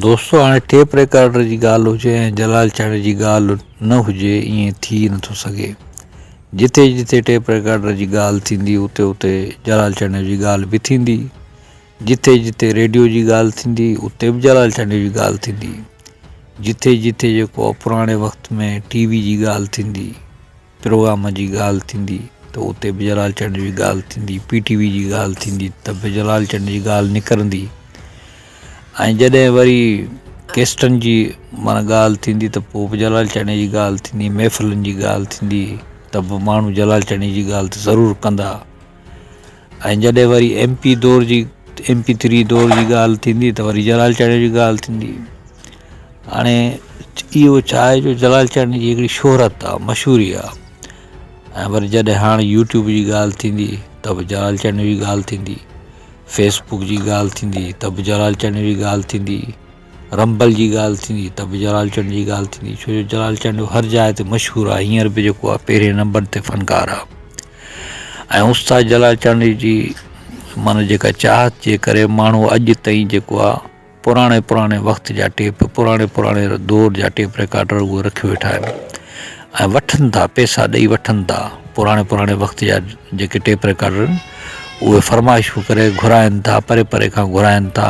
دوستو هاڻي tape recorder جي ڳالهه هجي ۽ جلال چهڙي جي ڳالهه نه هجي ائين ٿي نه ٿو سگهي جتي جتي ٽيپ ريڪارڊر جي ڳالهه ٿيندي اتي اتي جلال چهڙي جي ڳالهه به ٿيندي جتي جتي ريڊيو جي ڳالهه ٿيندي اتي به جلال چهڙي جي ڳالهه ٿيندي جتي جتي جيڪو پراڻي وقت ۾ ٽي وي جي ڳالهه ٿيندي پروگرام جي ڳالهه ٿيندي ته اتي به جلال چنڊ جي ڳالهه ٿيندي، پي ٽي وي جي ڳالهه ٿيندي ته به جلال چنڊ جي ڳالهه نڪرندي ۽ جڏهن وري ڪيسٽن جي معنيٰ ڳالهه ٿيندي ته پوء به جلال چنڊ جي ڳالهه ٿيندي محفلن جي ڳالهه ٿيندي ته به ماڻهو جلال چنڊ جي ڳالهه ته ضرور ڪندا ۽ جڏهن وري ايم پي دور جي ايم پي ٿري دور جي ڳالهه ٿيندي ته وري جلال چاڙهيو جي ڳالهه ٿيندي هاڻي اهو ڇا آهي جو جلال چاڙهيو جي هڪڙي شهرت آهي مشهوري آهي ۽ وري جڏهن هاڻي يوٽيوب جي ڳالهه ٿيندي ته به جلال چاڙهيو جي ڳالهه ٿيندي فيسبوڪ جي ڳالهه ٿيندي ته به جلال چاڙهيو جي ڳالهه ٿيندي رنبل جي ڳالهه ٿيندي ته به جلال چنڊ جي ڳالهه ٿيندي ڇو جو جلال چنڊ هر جاء تي مشهور آهي هينئر به جيڪو آهي پهرين نمبر تي فنڪار آهي ۽ استاد جلال چنڊ جي معنيٰ جيڪا چاهت جي ڪري ماڻهو اڄ تائين جيڪو آهي پراڻي پراڻي وقت جا ٽيپ پراڻي پراڻي دور جا ٽيپ رڪارڊر اهي رکي ويٺا آهن ۽ وٺن ٿا پيسا ڏئي وٺن ٿا پراڻي پراڻي وقت جا جيڪي ٽيپ رڪارڊر اهي فرمائشون ڪري گهرائن ٿا پري پري کان گهرائن ٿا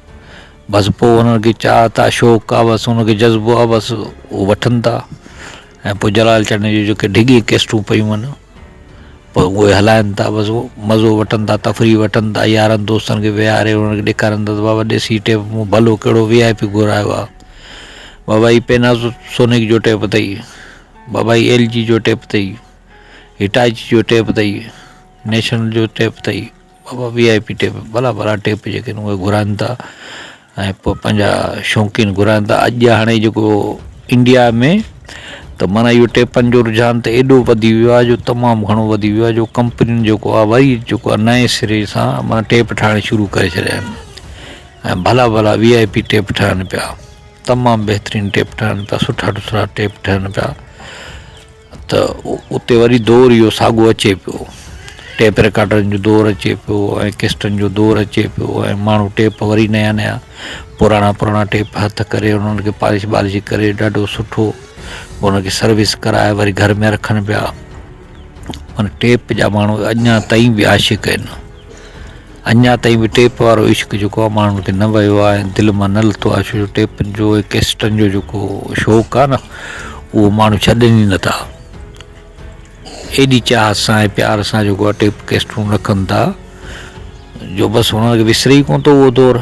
بس پوء انهن کي چاهت آ شوق آ بس انهن کي جذبو آ بس هو وٺن ٿا ۽ پوء جلال چنڊ جون جيڪي ڊگهي ڪيسٽون پيون آهن پوء اهي هلائن ٿا بس هو مزو وٺن ٿا تفريح وٺن ٿا يارن دوستن کي ويهاري انهن کي ڏيکارن ٿا ته بابا ڏسي ٽيپ مون ڀلو ڪهڙو وي آء پي گهرايو آ بابا هي پيناسو سونيڪ جو ٽيپ اٿئي بابا هي ايل جي جو ٽيپ اٿئي هٽاچي جو ٽيپ اٿئي نيشنل جو ٽيپ اٿئي بابا وي آء پي ٽيپ ڀلا ڀلا ٽيپ جيڪي آهن اهي گهرائن ٿا ۽ پوء پنهنجا شوقين گهرائن ٿا اڄ هاڻي جيڪو انڊيا ۾ ته معنيٰ اهو ٽيپن جو رجحان ته ايڏو وڌي ويو آهي جو تمام گهڻو وڌي ويو آهي جو ڪمپنين جيڪو آهي وري جيڪو آهي نئين سري سان معنيٰ ٽيپ ٺاهڻ شروع ڪري ڇڏيا آهن ۽ ڀلا ڀلا وي آء پي ٽيپ ٺهن پيا تمام بهترين ٽيپ ٺهن پيا سٺا سٺا ٽيپ ٺهن پيا ته اتي وري دور اهو ساڳو اچي پيو ٽيپ رڪارڊرن جو دور اچي پيو ۽ قسطن جو دور اچي پيو ۽ ماڻهو ٽيپ وري نيا نيا پراڻا پراڻا ٽيپ هٿ ڪري انهن کي پالش بالش ڪري ڏاڍو سٺو انهن کي سروس ڪرائي وري گهر ۾ رکن پيا مانا ٽيپ جا ماڻهو اڃا تائين به عاشق آهن اڃا تائين به ٽيپ وارو عشق جيڪو آهي ماڻهن تي نه ويو آهي ۽ دل مان نه لٿو آهي ڇو جو ٽيپن جو ۽ ڪيسٽن جو جيڪو شوق آهي نه اهو ماڻهو ڇڏن ئي نه ٿا ايڏي چاهت سان ۽ پيار سان جيڪو آهي ٽيپ ڪيسٽون رکن ٿا جو بس هنن کي وسري ڪونه ٿو اهو دور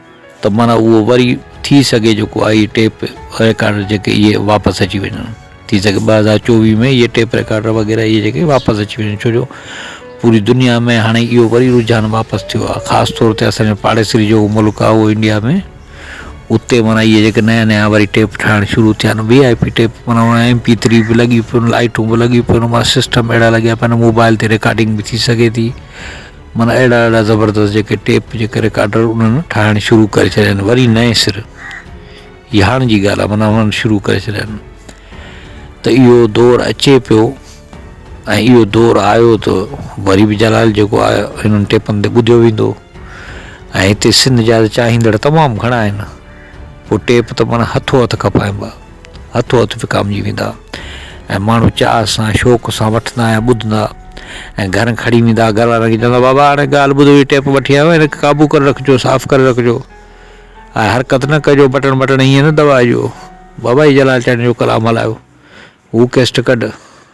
ته معنيٰ اهو وري ٿي سگهي جيڪو آئي ٽيپ ريڪارڊر جيڪي اهي واپس اچي وڃن ٿي سگهي ٻه هزار چوويهه ۾ اهي ٽيپ ريڪارڊر وغيره اهي جيڪي واپس اچي وڃن ڇو جو پوري دنيا ۾ هاڻي اهو وري رجحان واپس ٿيو آهي خاص طور تي اسان جو پاڙيسري جيڪو ملڪ آهي اهو انڊيا ۾ اتي معنيٰ اهي جيڪي نيا نيا وري ٽيپ ٺاهڻ شروع ٿيا آهن وي آئي پي ٽيپ معنيٰ هاڻي ايم پي ٿري به لڳي پيون لائيٽون به لڳي پيون معنيٰ سسٽم اهڙا لڳيا پيا آهن موبائل تي ريڪارڊنگ به ٿي سگهي ٿي معنيٰ اهڙا اهڙا زبردست جيڪي ٽيپ جيڪي رڪارڊر انهن ٺاهڻ شروع ڪري ڇڏيا آهن وري نئين سر هي هاڻ جي ڳالهه آهي معنيٰ هنن شروع ڪري ڇڏيا آهن ته اهو دور اچي پيو ۽ اهو دور آيو ته وري به جلال جيڪو آيو هنن ٽيپن تي ٻڌيو ويندو ۽ هتي سنڌ جا چاهيندڙ تمام گهڻا آهن پوء ٽيپ ته معنيٰ هٿو هٿ کپائبا هٿو هٿ وڪامجي ويندا ۽ ماڻهو چاهه سان شوق سان وٺندا ۽ ٻڌندا ۽ گهر کڻي ويندا گهر وارن کي چوندا بابا هاڻي ڳالهه ٻڌو هي ٽيپ وٺي آيو آهيان هن کي قابو ڪري رکجو صاف ڪري رکجو ۽ حرڪت نه ڪجو بٽڻ وٽڻ هيئن نه دٻائجو بابا هي جلال چاڙهيل جو ڪلام هلايو هو ڪيسٽ ڪڍ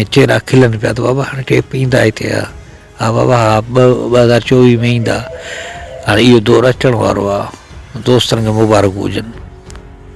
۽ چيرا کلن پيا ته بابا هاڻي ٽيپ ايندا ئي ٿيا ها بابا ها ٻه ٻه هزار چوويهه ۾ ايندا هاڻي اهو دور اچڻ وارو آهي دوستن کي مبارڪون هجن.